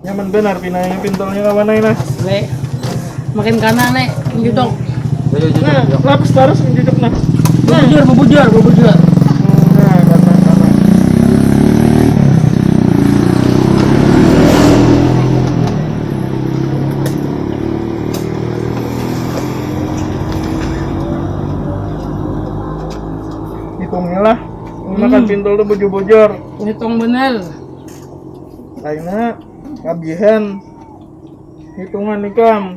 nyaman benar pina ini pintolnya kawan ini nah makin kanan nih judok nah lapis terus judok nah bubujur bubujur bubujur hitunglah makan pintul tuh bujur bujur hitung bener lainnya kabihan hitungan ikan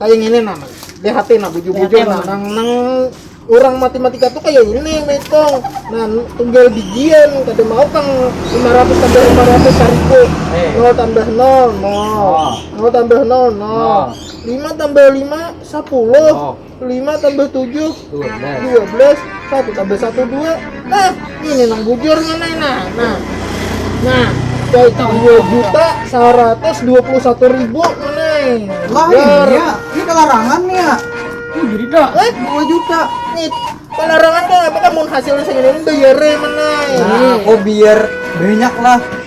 Kaya ngini nah, lihat ya nah bujur-bujur nah, nang, nang orang matematika tuh kaya ini metong nah tunggal bijian kada mau kang 500 tambah 500 saribu eh. nol tambah nol nol oh. nol tambah nol nol lima tambah lima sepuluh lima tambah tujuh dua belas dua belas satu tambah satu dua nah ini nang bujur mana nah nah nah itu dua juta seratus dua puluh satu ribu mana lah ini ya ini kelarangan ya ini jadi dah eh? dua juta ini kelarangan tuh apakah mau hasilnya segini bayar mana nah, oh biar banyak lah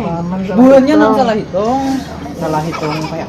Nah, bulannya nang salah hitung, salah hitung kayak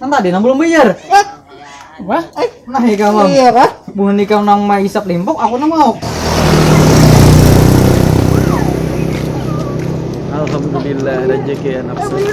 Nang tadi nang belum bayar. Wah, eh, nah ikam mam. Iya kah? Buhan ikam nang maisap limpok, aku nang mau. Alhamdulillah rezeki anak saya.